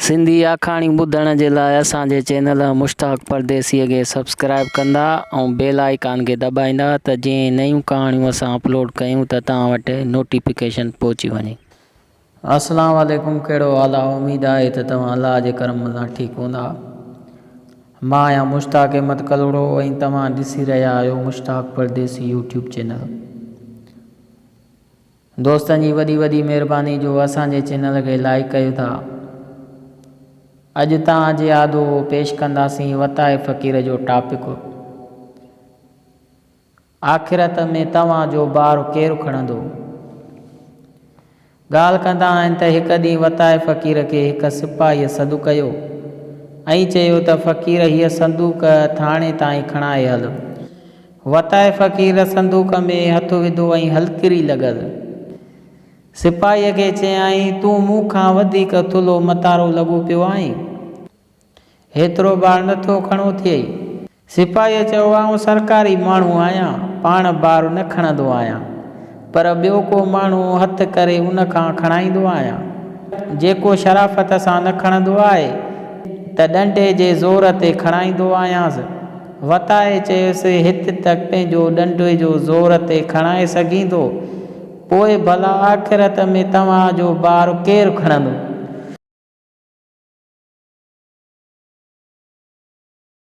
سنڌي آکاڻيون ٻڌڻ جي لاء اسان جي چينل مشتاق پرديسيء کي سبسڪرائيب ڪندا ۽ بيل آئيڪان کي دٻائيندا ته جيئن نيون ڪهاڻيون اسان اپلوڊ ڪيون ته توهان وٽ نوٽيفڪيشن پهچي وڃي. السلام عليڪم ڪهڙو حال آ اميد آهي ته توهان الله جي ڪرم سان ٺيڪ هوندا مان آهيان مشتاق احمد ڪلهوڙو ۽ توهان ڏسي رهيا آهيو مشتاق پرديسي يوٽيوب چينل. دوستن جي وڏي وڏي مھرباني جو اسان جي چينل کي لائيڪ ڪيو ٿا اڄ تان جي آدو پيش ڪنداسين وتاء فقير جو ٽاپڪ آخرت ۾ توھان جو بار ڪير کڻندو ڳالھ ڪندا آھن ته ھڪ ڏينھن وتاء فقير کي ھڪ سپاھي سڏ ڪيو ۽ چيو ته فقير ھيء صندوق ٿاڻي تائين کڻائي ھل وتائي فقير صندوق ۾ هٿ وڌو ۽ هلڪري لڳل سپاهيء کي چيائين، تون مون کان وڌيڪ ٿلهو متارو لڳو پيو آهين. هيترو بار نه ٿو کڻو ٿئي. سپاهيء چيو، آئون سرڪاري ماڻهو آهيان، پاڻ بار نه کڻندو آهيان. پر ٻيو ڪو ماڻهو هٿ ڪري ان کان کڻائيندو آهيان. جيڪو شرافت سان نه کڻندو آهي ته ڏنڊي جي زور تي کڻائيندو آهيانس. وتائي چيس، هت ته پنهنجو ڏنڊي جو زور تي کڻائي سگهين ٿو، پوء ڀلا آخرت ۾ توهان جو بار ڪير کڻندو؟